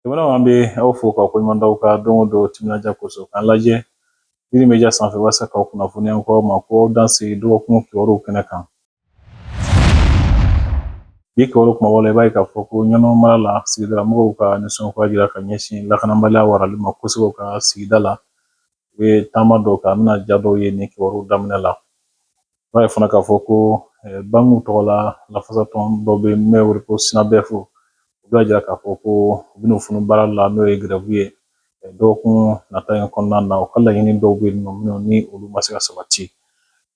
Jamana an bɛ aw fo k'aw koɲuman dɔn aw ka don o don timinandiya kosɔn k'an lajɛ Yiri Media sanfɛ walasa k'aw kunnafoniya an k'aw ma ko aw danse dɔgɔkun kibaruw kɛnɛ kan. Bi kibaru kumabaw la i b'a ye k'a fɔ ko Ɲɔnɔ mara la sigidalamɔgɔw ka nisɔngoya jira ka ɲɛsin lakanabaliya warali ma kosɛbɛ u ka sigida la u ye taama dɔw kɛ an bɛna ja dɔw ye nin kibaruw daminɛ la i b'a ye fana k'a fɔ ko bankiw tɔgɔ la lafasatɔn dɔ bɛ yen n'o ye ko sinabɛfu u b'a jira k'a fɔ ko u bɛna funu baara la n'o ye grève ye dɔgɔkun nata in kɔnɔna na u ka laɲini dɔw bɛ yen nɔ minnu ni olu ma se ka sabati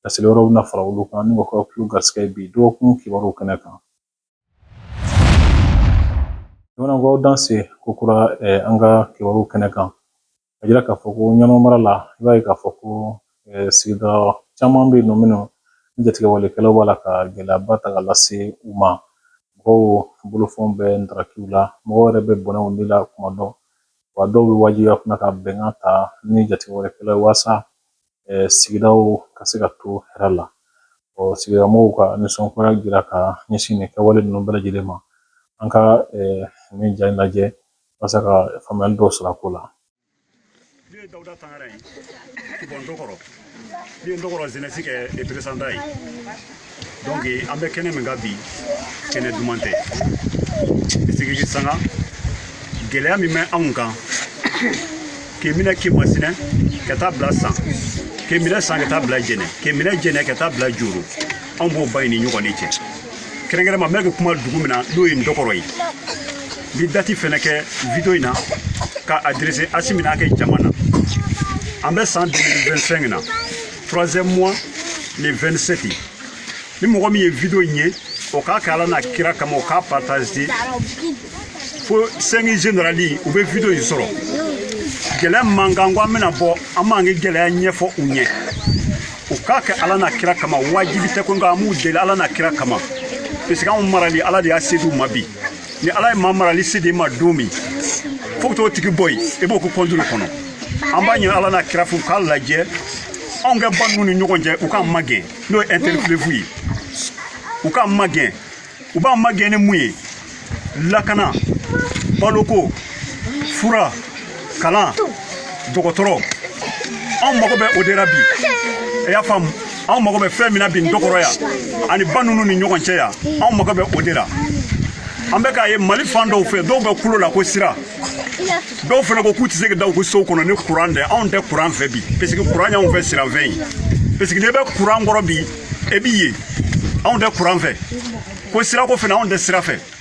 laseli wɛrɛw bɛna fara olu kan n'u ka kulu garisɛgɛ bi dɔgɔkun kibaruw kɛnɛ kan jamana an k'aw danse ko kura an ka kibaruw kɛnɛ kan a jira k'a fɔ ko Ɲɔnɔ mara la i b'a ye k'a fɔ ko sigida caman bɛ yen nɔ minnu ni jatigɛwalekɛlaw b'a la ka gɛlɛyaba ta ka lase u ma mɔgɔw bolofɛnw bɛ ntaraki u la mɔgɔw yɛrɛ bɛ bɔnɛ u ni la kuma dɔ wa dɔw bɛ wajibiya fana ka bɛnkan ta ni jatigɛwalekɛlaw ye walasa sigidaw ka se ka to hɛrɛ la sigida mɔgɔw ka nisɔngoya jira ka ɲɛsin nin kɛwale ninnu bɛɛ lajɛlen ma an ka nin ja in lajɛ walasa ka faamuyali dɔw sɔrɔ a ko la donc an bɛ kɛnɛ min kan bi kɛnɛ duman tɛ sigiji sanga gɛlɛya min bɛ anw kan k'i minɛ Kɛmasinɛ ka taa bila san k'i minɛ san ka taa bila jɛnɛ k'i minɛ jɛnɛ ka taa bila joro anw b'o ba in ni ɲɔgɔn de cɛ kɛrɛnkɛrɛn ma n bɛ ka kuma dugu min na n'o ye Ndɔkɔrɔ ye n bɛ dati fɛnɛ kɛ video in na ka adresser Asimi n'a kɛ jama na an bɛ san 2025 na troisième mois le 27 ni mɔgɔ min ye video in ye o k'a kɛ ala n'a kira kama o k'a partager fo 5 generali u bɛ video in sɔrɔ gɛlɛya b'an kan ko an bɛna bɔ an b'an ka gɛlɛya ɲɛfɔ u ɲɛ u k'a kɛ ala n'a kira kama wajibi tɛ ko nka an b'u deli ala n'a kira kama parce que anw marali ala de y'a se d'u ma bi ni ala ye maa marali se d'i ma don min fo ka t'o tigi bɔ yen i b'o ka contrôle kɔnɔ an b'a ɲini ala n'a kira fɛ u k'a lajɛ anw ka ba ninnu ni ɲɔgɔn cɛ u k'an magɛn n'o ye inter-fleuve ye u k'an magɛn u b'an magɛn ni mun ye lakana baloko fura kalan dɔgɔtɔrɔ anw mago bɛ o de la bi i y'a faamu anw mago bɛ fɛn min na bi dɔkɔrɔ yan ani ba ninnu ni ɲɔgɔn cɛ yan anw mago bɛ o de la an bɛ k'a ye mali fan dɔw fɛ dɔw bɛ kulo la ko sira dɔw fana ko k'u tɛ se ka da u ka sow kɔnɔ ni kuran tɛ anw tɛ kuran fɛ bi parce que kuran y'anw fɛ siranfɛn ye parce que n'i bɛ kuran kɔrɔ bi e b'i ye anw tɛ kuran fɛ ko sirako fana anw tɛ sira fɛ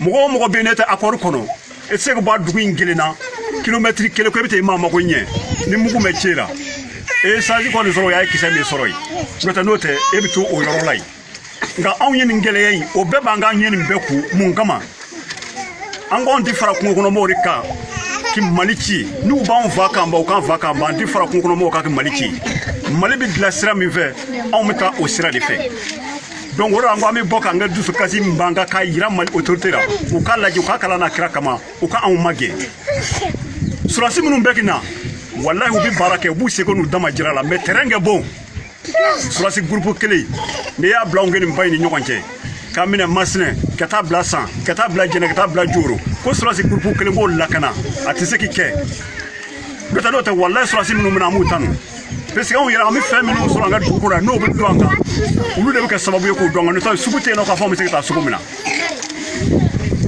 mɔgɔ o mɔgɔ bɛ n'e tɛ accord kɔnɔ e tɛ se ka bɔ a dugu in kelen na kilomɛtiri kelen ko e bɛ taa i maa mago ɲɛ ni mugu bɛ ci i la e ye chance kɔni sɔrɔ o y'a ye kisɛ m'i sɔrɔ yen n'o tɛ n'o tɛ e bɛ to o yɔrɔ la yen nka anw ye nin gɛlɛya in o bɛɛ b'an kan an ye nin bɛɛ kun mun kama an k'anw ti fara kungo kɔnɔ mɔgɔw de kan ki mali ci n'u b'anw fa k'an ban u k'an fa k'an ban an ti fara kungo kɔnɔ mɔgɔw kan ki mali ci mali bɛ dilan sira min fɛ anw bɛ taa o sira de fɛ donc o de an ko an bɛ bɔ k'an ka dusukasi min b'an kan k'a yira mali autorité la u k'a lajɛ u k'a kɛ ala n'a kira kama u ka anw magɛn surasi minnu bɛ ki na walahi u bɛ baara kɛ u b'u seko n'u damajira la mais terrain ka bon surasi groupe kelen n'i y'a bila anw kɛ nin ba in ni ɲɔgɔn cɛ k'a minɛ masinɛ ka taa bila san ka taa bila jɛnɛ ka taa bila joro ko surasi groupe kelen b'o lakana a tɛ se ki kɛ n'o tɛ n'o tɛ walahi surasi minnu bɛ na an b'u tanu Parce que anw yɛrɛ an bɛ fɛn minnu sɔrɔ an ka dugu kɔnɔ yan n'o bɛ don an kan olu de bɛ kɛ sababu ye k'o don an kan n'o tɛ sugu tɛ yen nɔ k'a fɔ an bɛ se ka taa sugu min na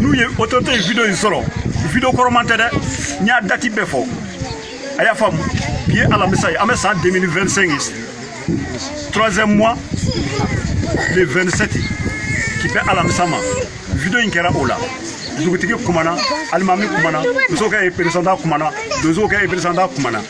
n'u ye autorité ye video in sɔrɔ video kɔrɔman tɛ dɛ n y'a dati bɛɛ fɔ a y'a faamu bi ye alamisa ye an bɛ san 2025 ye troisième mois le 27 ki bɛn alamisa ma video in kɛra o la dugutigi kumana alimami kumana muso ka représentant kumana donso ka représentant kumana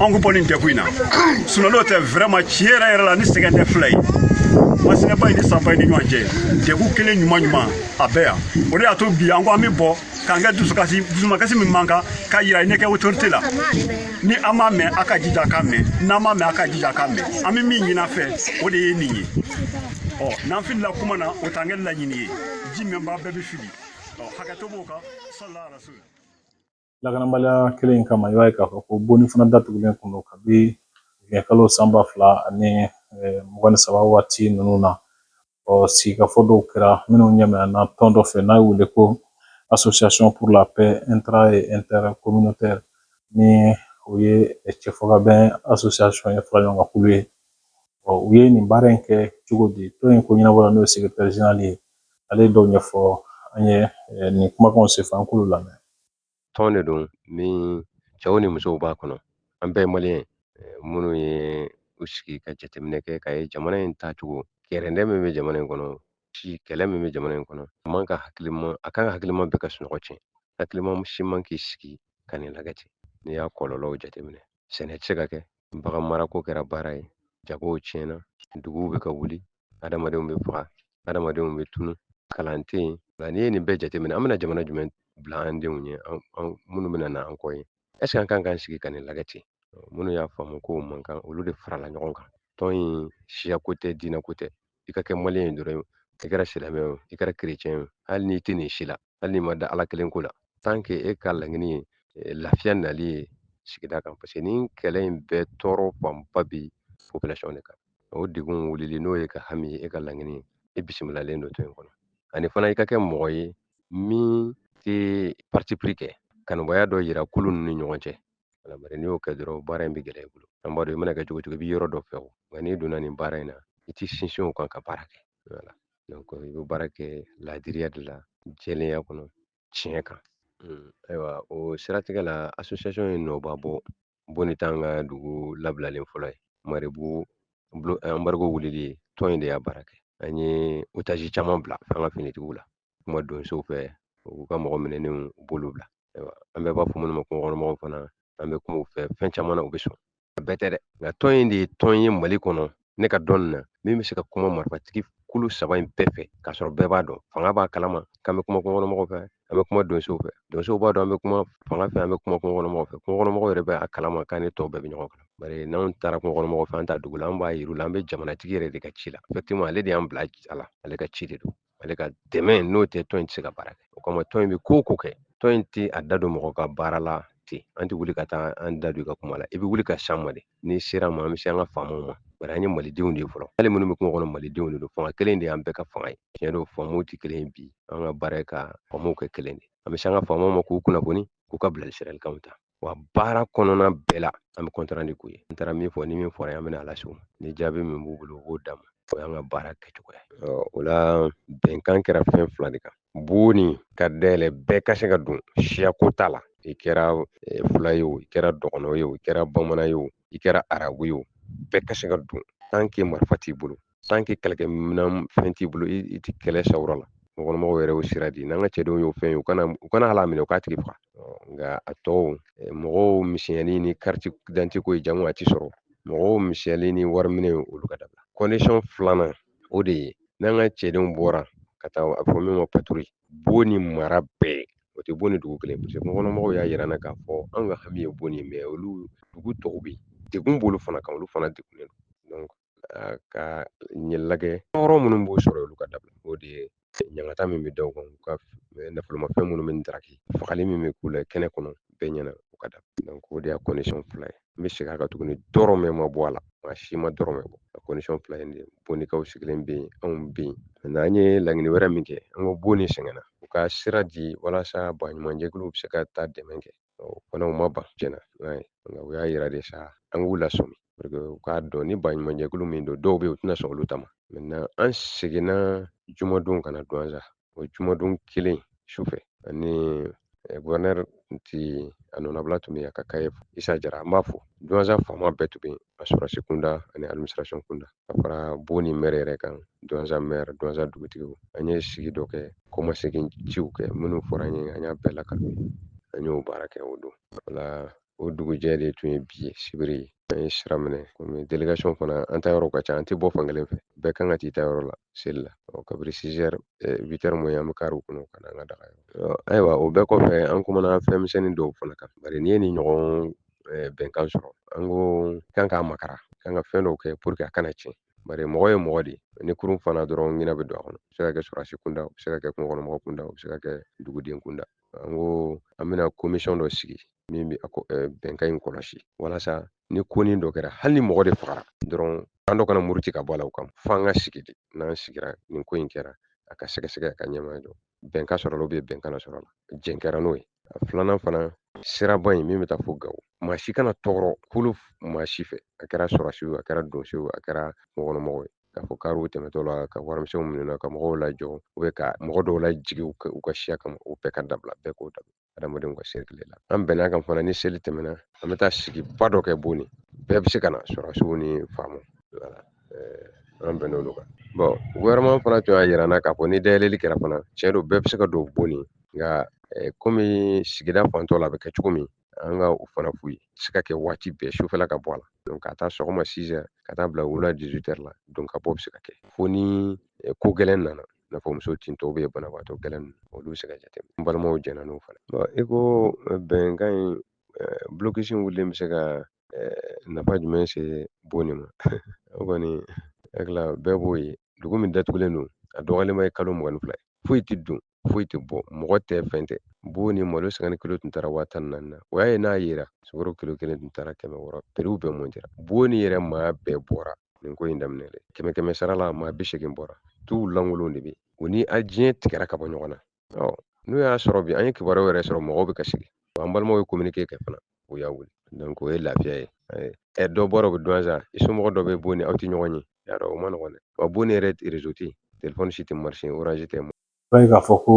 anw ka bɔ nin degun in na sinon n'o tɛ vraiment tiɲɛ yɛrɛ yɛrɛ la nin sɛgɛn tɛ fila ye masinɛba in ni sanba in ni ɲɔgɔn cɛ degun kelen ɲuman ɲuman a bɛɛ yan o de y'a to bi an ko an bɛ bɔ k'an kɛ dusukasi dusumakasi min b'an kan k'a yira ne kɛ autorité la ni a m'a mɛn a ka jija k'a mɛn n'a m'a mɛn a ka jija k'a mɛn an bɛ min ɲin'a fɛ o de ye nin ye ɔ n'an filila kuma na o t'an kɛ laɲini ye ji minbaa bɛɛ bɛ fili ɔ hakɛto b'o kan salala rasul Lakanabaliya kelen in kama i b'a ye k'a fɔ ko boni fana datugulen tun don kabi kalo san ba fila ani mugan ni saba waati ninnu na ɔ sigikafɔ dɔw kɛra minnu ɲɛminɛna tɔn dɔ fɛ n'a bɛ wele ko association pour la paix intra et intercommunautaire ni o ye cɛfɔkabɛn association ye fara ɲɔgɔn kan kulu ye ɔ u ye nin baara in kɛ cogo di tɔn in koɲɛnabɔla n'o ye secrétaire général ye ale ye dɔw ɲɛfɔ an ye nin kumakanw senfɛ an k'olu lamɛn Tɔn de don min cɛw ni musow b'a kɔnɔ an bɛɛ ye maliyɛn minnu ye u sigi ka jateminɛ kɛ ka ye jamana in taacogo kɛrɛndɛ min bɛ jamana in kɔnɔ si kɛlɛ min bɛ jamana in kɔnɔ a kan ka hakilima bɛɛ ka sunɔgɔ tiɲɛ hakilima si man k'i sigi ka nin lagɛ ten n'i y'a kɔlɔlɔw jateminɛ sɛnɛ tɛ se ka kɛ Bagan marako kɛra baara ye jagow tiɲɛna duguw bɛ ka wuli adamadenw bɛ faga adamadenw bɛ tunu kalan tɛ yen nka n'i ye nin bɛɛ jateminɛ an bɛna jamana jumɛn bila an denw ɲɛ an minnu bɛna na an kɔ ye est-ce que an kan k'an sigi ka nin lagɛ ten minnu y'a faamu k'o man kan olu de farala ɲɔgɔn kan tɔn in siyako tɛ diinɛko tɛ i ka kɛ maliyɛn ye dɔrɔn i kɛra silamɛ o i kɛra kerecɛn o hali n'i tɛ nin si la hali n'i ma da ala kelen ko la tant que e ka laɲini ye eh, lafiya nali ye sigida kan parce que ni kɛlɛ in bɛɛ tɔɔrɔ fanba bi population de kan o degun wulili n'o y'e ka hami e ka laɲini ye e bisimilalen don tɔn in kɔnɔ ani fana i ka kɛ mɔgɔ ye min tɛ parti pris kɛ kanubaya dɔ yira kulu ninnu ni ɲɔgɔn cɛ Voilà bari n'i y'o kɛ dɔrɔn baara in bɛ gɛlɛya i bolo. An b'a dɔn i mana kɛ cogo cogo i bɛ yɔrɔ dɔ fɛ o, nka n'i donna nin baara in na i t'i sinsin o kan ka baara kɛ. Voilà i bɛ baara kɛ laadiriya de la, jɛlenya kɔnɔ, tiɲɛ kan. Hmm, ayiwa o siratigɛ la association ye nɔba bɔ boni t'an ka dugu labilalen fɔlɔ ye marebugu embargo wulili ye tɔn in de y'a baara kɛ an ye otage caman bila an ka finitigiw la kuma donsow fɛ u k'u ka mɔgɔ minɛnenw u b'olu bila ayiwa an bɛɛ b'a fɔ minnu ma kungokɔnɔmɔgɔw fana an bɛ kuma u fɛ fɛn caman na u bɛ sɔn a bɛɛ tɛ dɛ nka tɔn in de ye tɔn ye mali kɔnɔ ne ka dɔn na min bɛ se ka kuma marifatigi kulu saba in bɛɛ fɛ k'a sɔrɔ bɛɛ b'a dɔn fanga b'a kalama k'an bɛ kuma kungokɔnɔmɔgɔw fɛ an bɛ kuma donsow fɛ donsow b'a dɔn an bɛ kuma fanga fɛ an bɛ kuma kungokɔnɔmɔgɔw fɛ kungokɔnɔmɔgɔw yɛrɛ bɛ a kalama k'an ni tɔw bɛɛ bɛ ɲɔgɔn kan bari n'anw taara kungokɔnɔmɔgɔw fɛ an t'a dog'u la an b'a yir'u la an bɛ jamanatigi yɛrɛ de ka ci la effectivement ale de y'an bila a la ale ka ci de don ale ka dɛmɛ n'o tɛ tɔn in tɛ se ka baara kɛ o kama tɔn in bɛ ko o ko kɛ tɔn in tɛ a da don mɔgɔ ka baara la ten an tɛ wuli ka taa an da don i ka kuma la i bɛ wuli ka s'an ma de n'i ser'an ma an bɛ se an ka faamaw ma bari an ye malidenw de ye fɔlɔ hali minnu bɛ kungo kɔnɔ malidenw de don fanga kelen de y'an bɛɛ ka fanga ye tiɲɛ don faamuw tɛ kelen ye bi an ka baara ye ka faamuw kɛ kelen de an bɛ se an ka faamaw ma k'u kunnafoni k'u ka bilasiralikanw ta wa baara kɔnɔna bɛɛ la an bɛ compte rendu k'u ye an taara min fɔ ni min fɔra an bɛna a las'u ma ni jaabi min b'u bolo u b'o d'an ma o y'an ka baara kɛcogo ye o la bɛnkan kɛra fɛn fila de kan boni ka dayɛlɛ bɛɛ ka se ka don siyako t'a la i kɛra eh, fula ye o i kɛra dɔgɔnɔ ye o i kɛra bamanan ye o i kɛra arabu ye o bɛɛ ka se ka don tant que marifa t'i bolo tant que kɛlɛkɛminɛn fɛn t'i bolo i tɛ kɛlɛ sawura la kungokɔnɔmɔgɔw yɛrɛ y'o sira di n'an ka cɛdenw y'o fɛn ye u kana u kana hal'a minɛ u k'a tigi faga nka a tɔw mɔgɔw misɛnyali ni kariti dante ko ye jango a ti sɔrɔ mɔgɔw misɛnyali ni wari minɛ olu ka dabila kɔndisɔn filanan o de ye n'an ka cɛdenw bɔra ka taa a fɔ min ma paturi boni mara bɛɛ o tɛ boni dugu kelen paseke kungokɔnɔmɔgɔw y'a yira an na k'a fɔ an ka hami ye boni ye mɛ olu dugu tɔw bɛ yen degun b'olu fana kan olu fana degunnen don ka ɲɛ lagɛ tɔɔrɔ minnu b'u sɔrɔ olu ka dabila o de ye ɲangata min bɛ da u kan u ka nafolomafɛn minnu bɛ daraki fagali min bɛ k'u la kɛnɛ kɔnɔ bɛɛ ɲɛna u ka dabila o de y'a kɔndisɔn fila ye n bɛ segin a kan tuguni dɔrɔmɛ ma bɔ a la maa si ma dɔrɔmɛ bɔ a kɔndisɔn fila in de bonikaw sigilen bɛ yen anw bɛ yen mɛ an ye laɲini wɛrɛ min kɛ an ko boni sɛgɛnna u ka sira di walasa baɲumankɛjɛkuluw bɛ se ka taa dɛmɛ kɛ Ɔ o fana u ma ban tiɲɛna i b'a ye nka u y'a yira de sa an k'u lasɔmi pour que u k'a dɔn ni baɲumankɛjɛkulu min don dɔw bɛ yen u tɛna sɔn olu ta ma maintenant an seginna jumadon ka na duwanza o jumadon kelen sufɛ ani gouverneur ti a nɔnabila tun bɛ yen a ka kaye isa jara an b'a fo duwanza faama bɛɛ tun bɛ yen a sɔrɔsi kunda ani administration kunda ka fara boni mɛri yɛrɛ kan duwanza mɛri duwanza dugutigiw an ye sigi dɔ kɛ kɔmasegin ciw kɛ minnu fɔra an ye an y'a bɛɛ lakali an y'o baara kɛ o don wala o dugujɛ de tun ye bi ye sibiri ye an ye sira minɛ komi delegation fana an ta yɔrɔ ka ca an tɛ bɔ fankelen fɛ bɛɛ kan ka t'i ta yɔrɔ la seli la ɔ kabiri sizɛri witɛri mɔ an bɛ kariw kɔnɔ ka na an ka dagayɔrɔ ayiwa o bɛɛ kɔfɛ an kumana fɛn misɛnnin dɔw fana kan bari n'i ye nin ɲɔgɔn eh, bɛnkan sɔrɔ an ko k'an k'a makaran k'an ka fɛn dɔw kɛ pour que a kana tiɲɛ bari mɔgɔ ye mɔgɔ de ye ni kurun farala dɔrɔn ɲinɛ bɛ don a kɔnɔ o bɛ se ka kɛ sɔrɔdasi kunda o bɛ se ka kɛ kungokɔnɔmɔgɔ kunda o bɛ se ka kɛ duguden kunda an ko an bɛna komisɔn dɔ sigi min bɛ eh, bɛnkan in kɔlɔsi walasa ni konin dɔ kɛra hali ni mɔgɔ de fagara dɔrɔn an dɔ kana muruti ka bɔ a la o kama f'an ka sigi de n'an sigira nin ko in kɛra a ka sɛgɛsɛgɛ a ka ɲɛmaya dɔn bɛnkan sɔrɔla bɛ bɛnkan na sɔrɔla jɛn kɛra n'o ye a filanan fana siraba in min bɛ taa fo gawo maa si kana tɔɔrɔ kulu maa si fɛ a kɛra sɔrɔsiw a kɛra donsow a kɛra kungokɔnɔmɔgɔw ye k'a fɔ kariw tɛmɛtɔ la ka warimisɛnw minɛ ka mɔgɔw lajɔ u bɛ ka mɔgɔ dɔw lajigin u ka siya kama o bɛɛ ka dabila bɛɛ k'o dabila adamadenw ka sirikile la an bɛnn'a kan fana ni seli tɛmɛna an bɛ taa sigiba dɔ kɛ boni bɛɛ bɛ se ka na sɔrɔsiw ni faamaw wala an bɛnn'olu kan gouvernement fana tun y'a jira n na k'a fɔ ni dayɛlɛli kɛra fana tiɲɛ don bɛɛ bɛ se ka don boni nka komi sigida fantɔ la a bɛ kɛ cogo min an ka o fana f'u ye se ka kɛ waati bɛɛ sufɛla ka bɔ a la donc k'a ta sɔgɔma 6 heures ka taa bila wula 18 heures la don ka bɔ bɛ se ka kɛ fo ni ko gɛlɛn nana n'a fɔ muso tintɔ banabaatɔ gɛlɛn ninnu olu bɛ se ka jateminɛ n balimaw jɛnna n'o fana i ko bɛnkan in blocus in wulilen bɛ se ka nafa jumɛn se boni ma o kɔni hakilila bɛɛ b'o ye dugu min datugulen don a dɔgɔyalenba ye kalo mugan ni fila ye foyi tɛ don foyi tɛ bɔ mɔgɔ tɛ fɛn tɛ boni malo cinquante kilo tun taara waa tan ni naani na o y'a ye n'a yera sukaro kilo kelen tun taara kɛmɛ wɔɔrɔ prix bɛɛ montera boni yɛrɛ maa bɛɛ bɔra nin ko in daminɛ dɛ kɛmɛ kɛmɛ sara la maa bi seegin bɔra duw lankolon de bɛ o ni diɲɛ tigɛra ka bɔ ɲɔgɔn na ɔ n'o y'a sɔrɔ bi an ye kibaruyaw yɛrɛ sɔrɔ mɔgɔw bɛ ka sigi an balimaw ye communiqué kɛ fana u y'a wuli donc o ye lafiya ye ɛ dɔ bɔra o bɛ duwanza i somɔgɔ dɔ bɛ boni aw tɛ ɲɔgɔn ye y'a dɔn o ma nɔgɔn dɛ wa boni yɛrɛ réseau tɛ yen telefɔni si tɛ marcher orange tɛ b'a ye k'a fɔ ko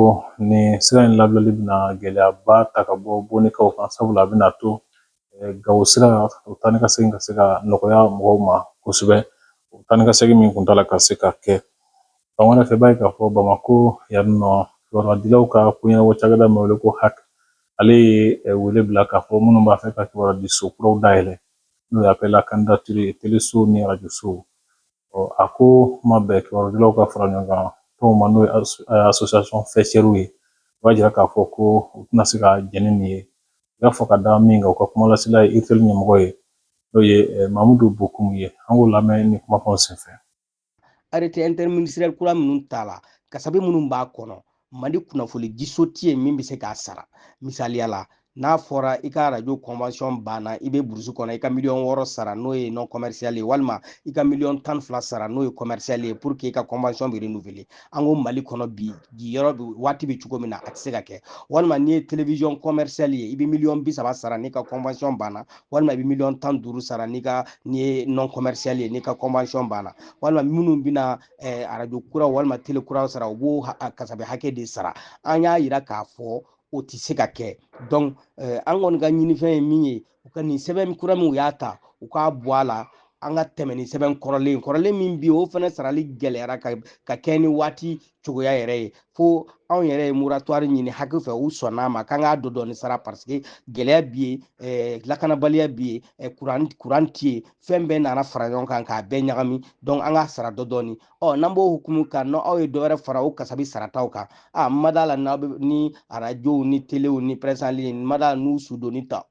nin sira in labilali bɛna gɛlɛyaba ta ka bɔ bonikaw kan sabula a bɛna to gawo sira o taa ni ka segin ka se ka nɔgɔya mɔgɔw ma kosɛbɛ o taa ni ka segin min kuntaala ka se ka kɛ fan wɛrɛ fɛ i b'a ye k'a fɔ bamako yan nɔ kibaruya ka koɲɛnabɔ cakɛda min wele ko hac ale ye wele bila k'a fɔ minnu b'a fɛ ka kibaruya diso kuraw dayɛlɛ n'o ye appel à candidature teleso ni arajosow a ko ma bɛn kibaruyadilaw ka fara ɲɔgɔn kan tɔnw ma n'o ye association faîtièrew ye u y'a jira k'a fɔ ko u tɛna se ka jɛn ni nin ye u y'a fɔ ka da min kan u ka kumalasila ye urtel ɲɛmɔgɔ ye n'o ye mamudu bokum ye an k'o lamɛn nin kumakanw senfɛ arrêté interministériel kura minnu tala kasabi minnu b'a kɔnɔ mali kunnafoni diso ti yen min bɛ se k'a sara misaliya la n'a fɔra i ka radio convention banna i bɛ burusi kɔnɔ i ka miliyɔn wɔɔrɔ sara n'o ye non commercial ye walima i ka miliyɔn tan fila sara n'o ye commercial ye pour que i ka convention bɛ renouveler an ko mali kɔnɔ bi bi yɔrɔ bi waati bɛ cogo min na a tɛ se ka kɛ walima n'i ye télévision commercial ye i bɛ miliyɔn bi saba sara n'i ka convention banna walima i bɛ miliyɔn tan duuru sara n'i ka n'i ye non commercial ye n'i ka convention banna walima minnu bɛna eh, arajo kura walima tele kura sɔrɔ u b'o kasabi hakɛ de sara an y'a yira k'a fɔ o tɛ se ka kɛ donc eh, an kɔni ka ɲinifɛn ye min ye u ka nin sɛbɛn kura min u y'a ta u k'a bɔ a la an ka tɛmɛ ni sɛbɛn kɔrɔlen kɔrɔlen min bi o fana sarali gɛlɛyara ka ka kɛ ni waati cogoya yɛrɛ ye fo anw yɛrɛ ye moratoire ɲini hac fɛ u sɔnn'a ma k'an k'a dɔ dɔɔni sara parce que gɛlɛya bi yen eh, lakanabaliya bi yen eh, kuran kuran ti yen fɛn bɛɛ nana fara ɲɔgɔn kan k'a bɛɛ ɲagami donc an k'a sara dɔ dɔɔni ɔ n'an b'o hukumu kan n'aw ye dɔ wɛrɛ fara o kasabi sarataw kan n ma d'a la n'aw bɛ ni arajow ni telew ni presse en ligne n ma d'a la n'u sudonni t'aw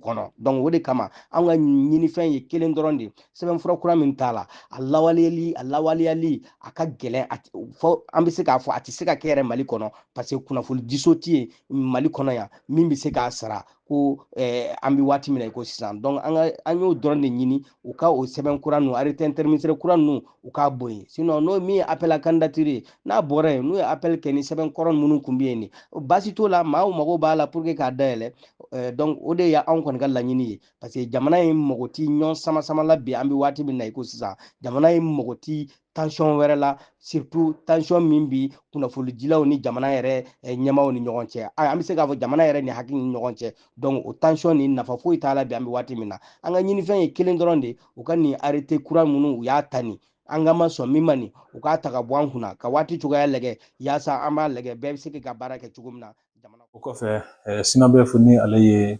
kɔnɔ donc o de kama an ka ɲinifɛn ye kelen dɔrɔn de sɛbɛnfura kura min tala a lawaleyali a lawaleyali a ka gɛlɛn fo an bɛ se k'a fɔ a tɛ se ka kɛ yɛrɛ mali kɔnɔ parce que kunnafoni diso tɛ yen mali kɔnɔ yan min bɛ se k'a sara ko eh, an bɛ waati min na i ko sisan donc an ka an y'o dɔrɔn de ɲini u ka o sɛbɛn kura ninnu arrêté interministériel kura ninnu u k'a bɔ yen sinon n'o min ye appel à candidature ye n'a bɔra yen n'u ye appel kɛ ni sɛbɛn kɔrɔ minnu tun bɛ yen ni baasi t'o la maaw mago b'a la pour que k'a dayɛlɛ eh, donc o de ye anw kɔni ka laɲini ye parce que jamana in mago ti ɲɔgɔn sama sama la bi an bɛ waati min na i ko sisan jamana in mago ti tension wɛrɛ la surtout tension min bi kunnafonidilaw ni jamana yɛrɛ eh, ɲɛmaaw ni ɲɔgɔn cɛ an bɛ se k'a fɔ jamana yɛrɛ ni hac ni ɲɔgɔn cɛ donc o tension nin nafa foyi t'a la bi an bɛ waati min na an ka ɲinifɛn ye kelen dɔrɔn de u ka nin arrêté kura minnu u y'a ta nin an ka ma sɔn min ma nin u k'a ta ka bɔ an kunna ka waati cogoya lagɛ yaasa an b'a lagɛ bɛɛ bɛ se ka baara kɛ cogo min na jamana o kɔfɛ eh, synabef ni ale ye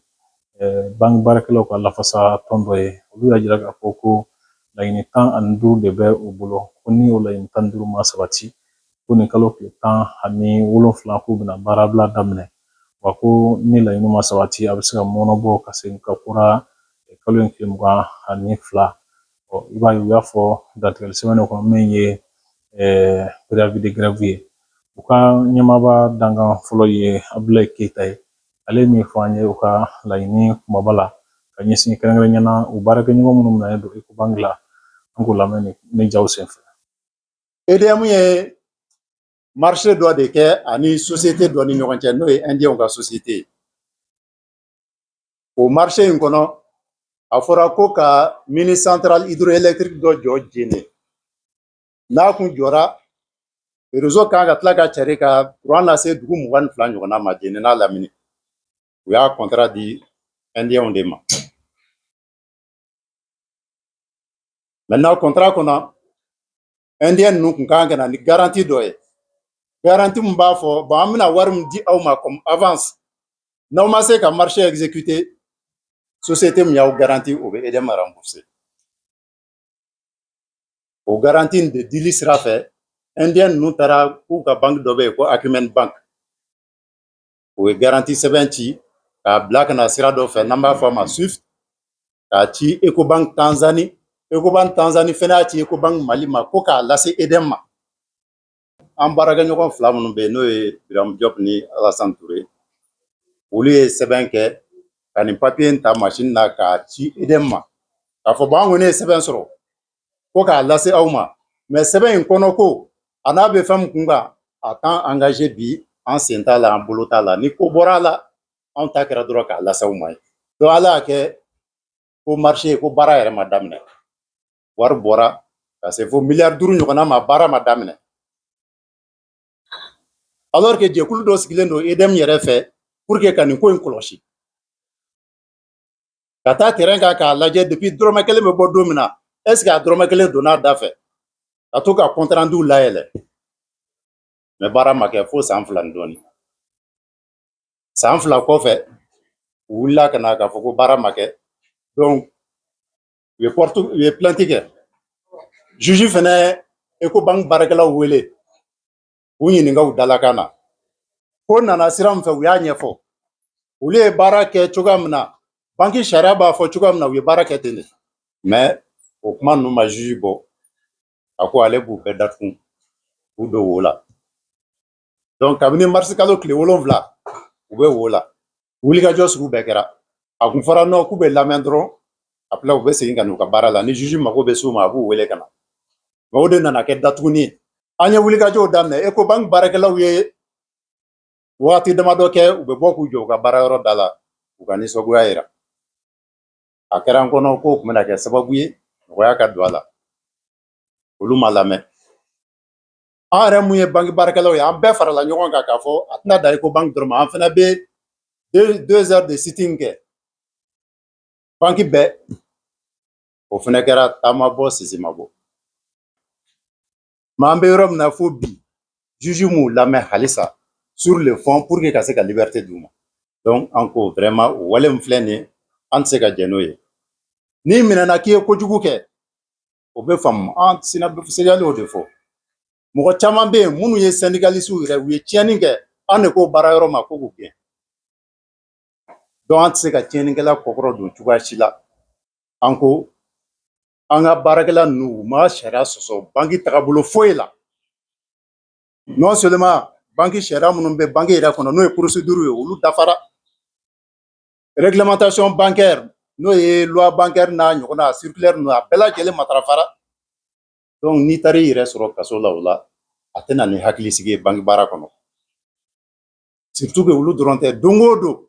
eh, banki baarakɛlaw ka lafasa tɔn dɔ ye olu y'a jira k'a fɔ ko laɲini tan ani duuru de bɛ u bolo ko ni o laɲini tan ni duuru ma sabati ko nin kalo tile tan ani wolonfila k'u bɛna baarabila daminɛ wa ko ni laɲini ma sabati a bɛ se ka mɔnɔbɔ ka segin ka kura kalo in tile mugan ani fila ɔ i b'a ye u y'a fɔ dantigɛli sɛbɛn kɔnɔ min ye préavis de grève ye u ka ɲɛmaaba dankan fɔlɔ ye abulayi keyita ye ale ye min fɔ an ye u ka laɲini kumaba la ka ɲɛsin kɛrɛnkɛrɛnnenya na u baarakɛɲɔgɔn minnu minɛlen don ecobank la an k'u lamɛn nin jaw senfɛ edm ye marché dɔ de kɛ ani société dɔ ni ɲɔgɔn cɛ n'o ye indienw ka société ye o marché in kɔnɔ a fɔra ko ka mini centrale hydroélectrique dɔ jɔ jene n'a kun jɔra réseau kan ka tila ka cari ka kuran lase dugu mugan ni fila ɲɔgɔnna ma jene n'a lamini u y'a contrat di indienw de ma maintenant contrat kɔnɔ indien ninnu kun kan ka na ni garantie dɔ ye garantie min b'a fɔ bon an bɛna wari min di aw ma comme avance n'aw ma se ka marché exécuter société min y'aw garanti o bɛ edm rembourser o garantie de dili sira fɛ indien ninnu taara k'u ka banki dɔ bɛ yen ko acumen bank o ye garantie sɛbɛn ci k'a bila ka na sira dɔ fɛ n'an b'a fɔ a ma swift k'a ci ecobank tanzanie ecobank tanzanie fɛnɛ y'a ci ecobank mali ma ko k'a lase edm ma an baarakɛ ɲɔgɔn fila minnu bɛ yen n'o ye biramu jɔp ni alasan ture olu ye sɛbɛn kɛ ka nin papier in ta masini na k'a ci edm ma k'a fɔ bon an kɔni ye sɛbɛn sɔrɔ ko k'a lase aw ma mais sɛbɛn in kɔnɔ ko a n'a bɛ fɛn min kun kan a t'an engager bi an sen t'a la an bolo t'a la ni ko bɔra a la anw ta kɛra dɔrɔn k'a lase aw ma ye donc ala y'a kɛ ko marché ko baara yɛrɛ ma daminɛ wari bɔra ka se fo miliyari duuru ɲɔgɔnna ma baara ma daminɛ alors que jɛkulu dɔ sigilen don EDM yɛrɛ fɛ pour que ka nin ko in kɔlɔsi ka taa terrain kan k'a lajɛ depuis dɔrɔmɛ kelen bɛ bɔ don min na est ce que a dɔrɔmɛ kelen donna a da fɛ ka to ka compte renduw layɛlɛ mais baara ma kɛ fo san fila ni dɔɔni san fila kɔfɛ u wulila ka na k'a fɔ ko baara ma kɛ donc u ye pɔrɔtu u ye plainte kɛ juge fɛnɛ Ecobank baarakɛlaw wele u ɲininka u dalakan na ko nana sira min fɛ u y'a ɲɛfɔ olu ye baara kɛ cogoya min na banki sariya b'a fɔ cogoya min na u ye baara kɛ ten de mais o kuma ninnu ma juge bɔ a ko ale b'u bɛɛ datugu k'u don wo la donc kabini marisi kalo tile wolonwula u bɛ wo la wulikajɔ sugu bɛɛ kɛra a kun fɔra non k'u bɛ lamɛn dɔrɔn après u bɛ segin ka n'u ka baara la ni juge mago bɛ s'u ma a b'u wele ka na nka o de nana kɛ datuguni ye an ye wulikajɔw daminɛ Ecobank baarakɛlaw ye wagati damadɔ kɛ u bɛ bɔ k'u jɔ u ka baarayɔrɔ da la u ka nisɔngoya yira a kɛra an kɔnɔ k'o tun bɛna kɛ sababu ye nɔgɔya ka don a la olu ma lamɛn an yɛrɛ mun ye banki baarakɛlaw ye an bɛɛ farala ɲɔgɔn kan k'a fɔ a tɛna dan Ecobank dɔrɔn ma an fana bɛ deux heures de sitting kɛ banki bɛɛ o fana kɛra ta ma bɔ sisi ma bɔ mais an bɛ yɔrɔ min na fo bi juge m'u lamɛn halisa sur le fond pour que ka se ka liberté d'u ma donc an ko vraiment o wale min filɛ nin ye an tɛ se ka jɛn n'o ye n'i minɛna k'i ye kojugu kɛ o bɛ faamu ancien segal y'o de fɔ mɔgɔ caman bɛ yen minnu ye syndicalistew yɛrɛ u ye tiɲɛni kɛ an de ko baarayɔrɔ ma ko k'u gɛn donc an tɛ se ka tiɲɛnikɛla kɔkɔrɔdon cogoya si la an ko an ka baarakɛla ninnu u ma sariya sɔsɔ banki tagabolo foyi la non seulement banki sariya minnu bɛ banki yɛrɛ kɔnɔ n'o ye procédure ye olu dafara réglementation bancaire n'o ye loi bancaire n'a ɲɔgɔnna circulaire ninnu a bɛɛ lajɛlen matarafara donc n'i taara i yɛrɛ sɔrɔ kaso la o la a tɛ na ni hakilisigi ye banki baara kɔnɔ surtout que olu dɔrɔn tɛ don o don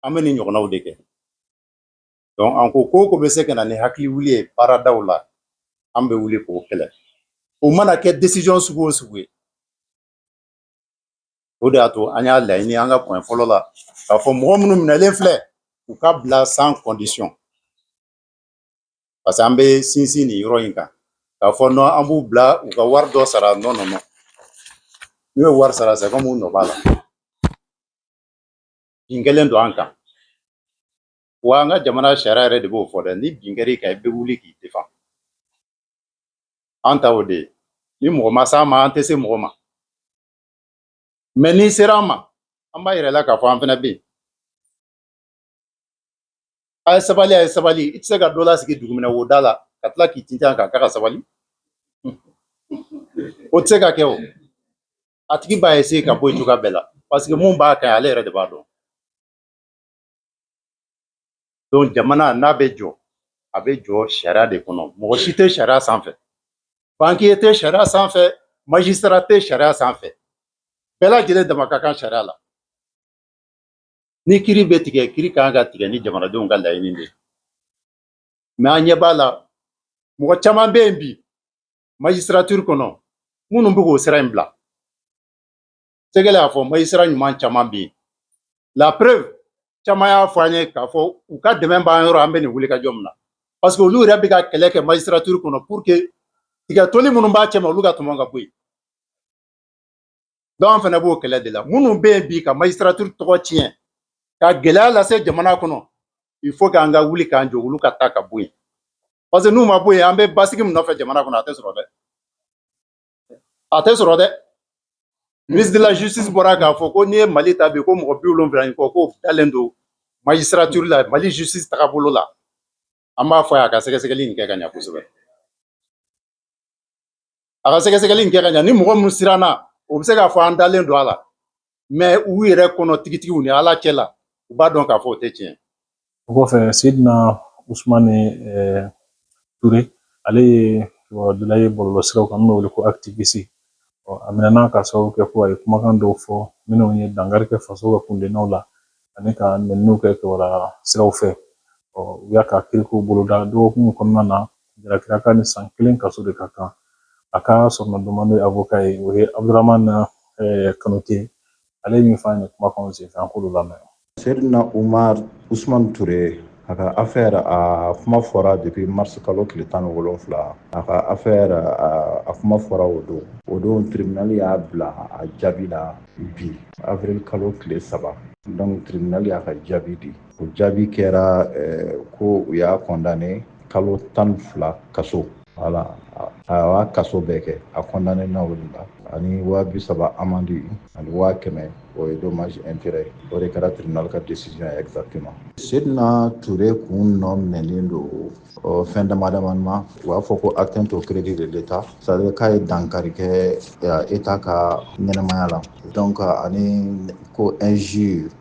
an bɛ nin ɲɔgɔnnaw de kɛ donc an ko ko o ko bɛ se ka na ni hakili wuli ye baaradaw la an bɛ wuli k'o kɛlɛ o mana kɛ décision sugu o sugu ye O de y'a to an y'a laɲini an ka point fɔlɔ la k'a fɔ mɔgɔ minnu minɛlen filɛ u ka bila sans condition parce que an bɛ sinsin nin yɔrɔ in kan k'a fɔ non an b'u bila u ka wari dɔ sara non non non n'u ye wari sara c'est comme u nɔ b'a la bin kɛlen don an kan wa an ka jamana sariya yɛrɛ de b'o fɔ dɛ ni bin kɛr'i kan i bɛ wuli k'i défend an ta o de ye ni mɔgɔ ma s'an ma an tɛ se mɔgɔ ma mais n'i sera an ma an b'a yir'i la k'a fɔ an fana bɛ yen a ye sabali a ye sabali i tɛ se ka dɔ lasigi dugumɛnɛ wo da la ka tila k'i tintin a kan k'a ka sabali o tɛ se ka kɛ o a tigi b'a essayer ka bɔ yen cogoya bɛɛ la parce que mun b'a kan ale yɛrɛ de b'a dɔn donc jamana n'a bɛ jɔ a bɛ jɔ sariya de kɔnɔ mɔgɔ si tɛ sariya sanfɛ banquier tɛ sariya sanfɛ magistrat tɛ sariya sanfɛ bɛɛ lajɛlen dama ka kan sariya la ni kiri bɛ tigɛ kiri kan ka tigɛ ni jamanadenw ka laɲini de ye mais an ɲɛ b'a la mɔgɔ caman bɛ yen bi magistrature kɔnɔ minnu bɛ k'o sira in bila Sɛgɛlɛ y'a fɔ magistrat ɲuman caman bɛ yen la preuve caman y'a fɔ an ye k'a fɔ u ka dɛmɛ b'an yɔrɔ an bɛ nin wulikajɔ min na parce que olu yɛrɛ bɛ ka kɛlɛ kɛ magistrature kɔnɔ pour que tiga toli minnu b'a cɛma olu ka tɔmɔ ka bɔ yen donc an fana b'o kɛlɛ de la minnu bɛ yen bi ka magistrature tɔgɔ tiɲɛ ka gɛlɛya lase jamana kɔnɔ il faut k'an ka wuli k'an jɔ olu ka taa ka bɔ yen parce que n'u ma bɔ yen an bɛ basigi min nɔfɛ jamana kɔnɔ a tɛ sɔrɔ dɛ a tɛ sɔrɔ dɛ ministre de la justice bɔra k'a fɔ ko n'i ye mali ta bi ko mɔgɔ bi wolonwula ni kɔ k'o dalen don magistrature la mali justice tagabolo la an b'a fɔ a ka sɛgɛsɛgɛli in kɛ ka ɲa kosɛbɛ a ka sɛgɛsɛgɛli in kɛ ka ɲa ni mɔgɔ min siranna o bɛ se k'a fɔ an dalen don a la mais u yɛrɛ kɔnɔ tigitigiw ni ala cɛ la u b'a dɔn k'a fɔ o tɛ tiɲɛ o kɔfɛ seydina usumani eh, ture ale ye kibaruyadila ye bɔlɔlɔsiraw kan n'o wele ko activiste ɔ a minɛna ka sababu kɛ ko a ye kumakan dɔw fɔ minnu ye dankari kɛ faso ka kundennaw la ani ka nɛniniw kɛ kibaruya siraw fɛ ɔ u y'a ka kirikow boloda dɔgɔkun kɔnɔna na Jalakila k'a ni san kelen kaso de ka kan a ka soronadonna n'o ye avocat ye o ye abdramane kanute ale ye min fɔ an ye kumakan senfɛ an k'olu lamɛn seydina umar usman ture a ka affaire a kuma fɔra depuis mars kalo tile tan ni wolonwula a ka affaire a kuma fɔra o don o don tribunal y'a bila a jaabi la bi avril kalo tile saba donc tribunal y'a ka jaabi di o jaabi kɛra eh, ko u y'a kɔndane kalo tan fila kaso voilà a y'a kaso bɛɛ kɛ a kɔndanena o de la ani waa bi saba amandi ani waa kɛmɛ o ye dommage intérêt o de kɛra tribunal ka décision ye exactement sedina ture kun nɔ minɛlen don fɛn dama damani ma u b'a fɔ ko atteinte au crédit de l'état c'est à dire k'a ye dankari kɛ état ka ɲɛnamaya la donc ani ko injure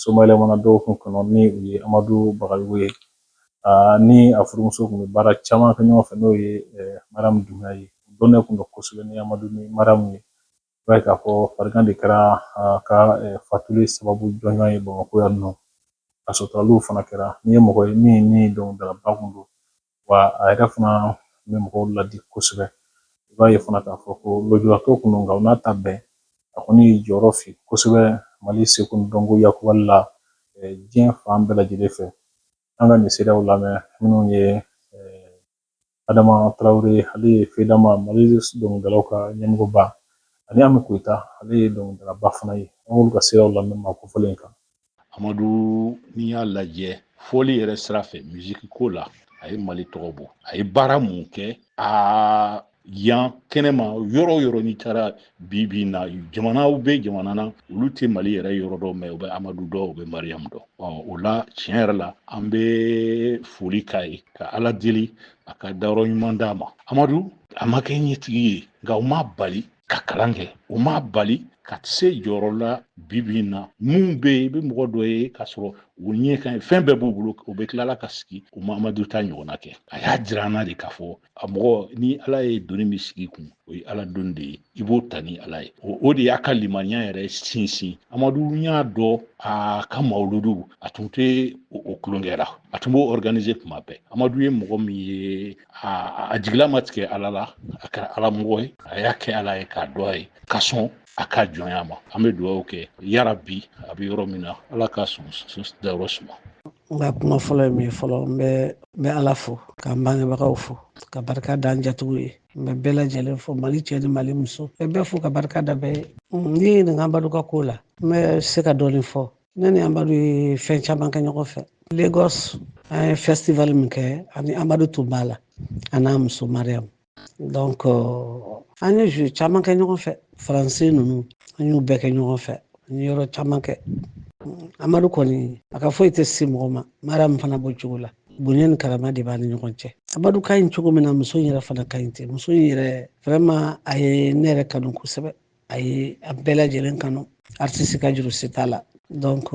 somayɛlɛmana dɔgɔkun kɔnɔ ni o ye amadu bagayogo ye ni a furumuso kun bɛ baara caman kɛ ɲɔgɔn fɛ n'o ye mariyamu dunbiya ye dɔnnen kun don kosɛbɛ ni amadu ni mariyamu ye i b'a ye k'a fɔ farigan de kɛra a ka fatuli sababu jɔnjɔn ye bamakɔ yan nɔ a suturali fana kɛra nin ye mɔgɔ ye min ni dɔnkilidalaba kun don wa a yɛrɛ fana bɛ mɔgɔw ladi kosɛbɛ i b'a ye fana k'a fɔ ko lujuratɔ kun don nka o n'a ta bɛɛ a kɔni ye jɔyɔrɔ fa kosɛbɛ mali seko ni dɔnko yakubali la diɲɛ fan bɛɛ lajɛlen fɛ an ka nin seerew lamɛn minnu ye adama tarawele ale ye fedama mali dɔnkilidalaw ka ɲɛmɔgɔba ani ami koyita ale ye dɔnkilidalaba fana ye an k'olu ka seerew lamɛn maa kofɔlen kan amadu n'i y'a lajɛ fɔli yɛrɛ sira fɛ miziki ko la a ye mali tɔgɔ bɔ a ye baara min kɛ aa yan kɛnɛma yɔrɔ o yɔrɔ n'i taara bi bi na jamanaw bɛ jamana na olu tɛ mali yɛrɛ yɔrɔ dɔn mais u bɛ amadu dɔn u bɛ mariyamu dɔn o la tiɲɛ yɛrɛ la an bɛ foli k'a ye ka ala deli a ka dayɔrɔ ɲuman d'a ma amadu a ma kɛ ɲɛtigi ye nka o m'a bali ka kalan kɛ o m'a bali ka se jɔyɔrɔ la bibi in na min bɛ yen i bɛ mɔgɔ dɔ ye k'a sɔrɔ u ɲɛ ka ɲi fɛn bɛɛ b'u bolo u bɛ tilala ka sigi u ma amadu ta ɲɔgɔnna kɛ a y'a jira an na de k'a fɔ a mɔgɔ ni ala ye doni min sigi i kun o ye ala doni de ye i b'o ta ni ala ye o de y'a ka limaniya yɛrɛ sinsin amadu y'a dɔn a ka mawuludu a tun tɛ o tulonkɛ la a tun b'o organise tuma bɛɛ amadu ye mɔgɔ min ye a a jigila ma tigɛ ala la a kɛra ala mɔgɔ ye a y'a kɛ ala ye k'a dɔn a ye ka sɔn a ka jɔnya ma an bɛ dugawu kɛ yarabi a bɛ yɔrɔ min na ala ka sɔn dayɔrɔ suma n ka kuma fɔlɔ ye min ye fɔlɔ n bɛ n bɛ ala fo ka n bangebagaw fo ka barika da n jatigiw ye n bɛ bɛɛ lajɛlen fo mali cɛ ni mali muso n bɛ bɛɛ fo ka barika da bɛɛ ye n'i ye n ɲininka amadu ka ko la n bɛ se ka dɔɔnin fɔ ne ni amadu ye fɛn caman kɛ ɲɔgɔn fɛ lagos an ye festival min kɛ ani amadu tun b'a la a n'a muso mariyamu donc euh, an ye jeu caman kɛ ɲɔgɔn fɛ faransi ninnu an y'u bɛɛ kɛ ɲɔgɔn fɛ an ye yɔrɔ caman kɛ amadu kɔni a ka foyi tɛ se mɔgɔ ma mariyamu fana b'o cogo la bonya ni karama de b'an ni ɲɔgɔn cɛ amadu ka ɲi cogo min na muso in yɛrɛ fana ka ɲi ten muso in yɛrɛ vraiment a ye ne yɛrɛ kanu kosɛbɛ a ye a bɛɛ lajɛlen kanu aritisi ka juru si t'a la donc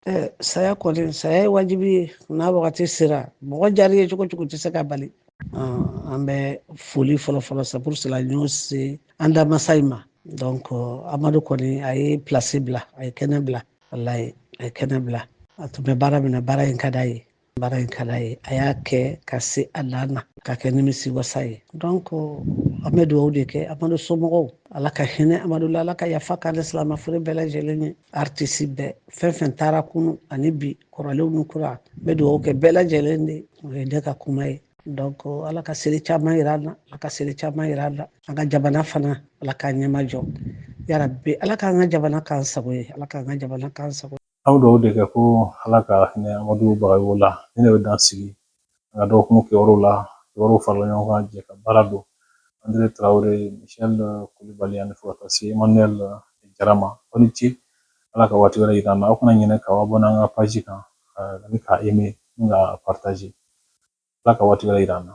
eh, saya kɔni saya ye wajibi ye n'a wagati sera mɔgɔ jari ye cogo cogo tɛ se ka bali an bɛ foli fɔlɔfɔlɔ c'est pour cela n y'o se an da masa in ma donc amadu kɔni a ye plasi bila a ye kɛnɛ bila walayi a ye kɛnɛ bila a tun bɛ baara min na baara in ka d'a ye baara in ka d'a ye a y'a kɛ ka se a dan na ka kɛ nimisi wasa ye donc an bɛ dugawu de kɛ amadu somɔgɔw ala ka hinɛ amadu la ala ka yafa k'ale silamɛ fure bɛɛ lajɛlen ye aritisi bɛɛ fɛn fɛn taara kunun ani bi kɔrɔlenw ni kura n bɛ dugawu kɛ bɛɛ lajɛlen de o ye ne ka kuma ye donc ala ka seli caman yira an na ala ka seli caman yira an na an ka jamana fana ala k'a ɲɛmajɔ yarabi ala k'an ka jamana k'an sago ye ala k'an ka jamana k'an sago an bɛ dugawu de kɛ ko ala ka hinɛ amadu bagayogo la nin de bɛ dan sigi an ka dɔgɔkun kibaru la kibaruw farala ɲɔgɔn kan jɛkabaara don andre tarawele michel kulubali ani fo ka taa se emmanuel jara ma aw ni ce ala ka waati wɛrɛ yira an na aw kana ɲinɛ ka abɔne an ka paji kan ani ka eme ni ka partaje ala ka waati wɛrɛ yira an na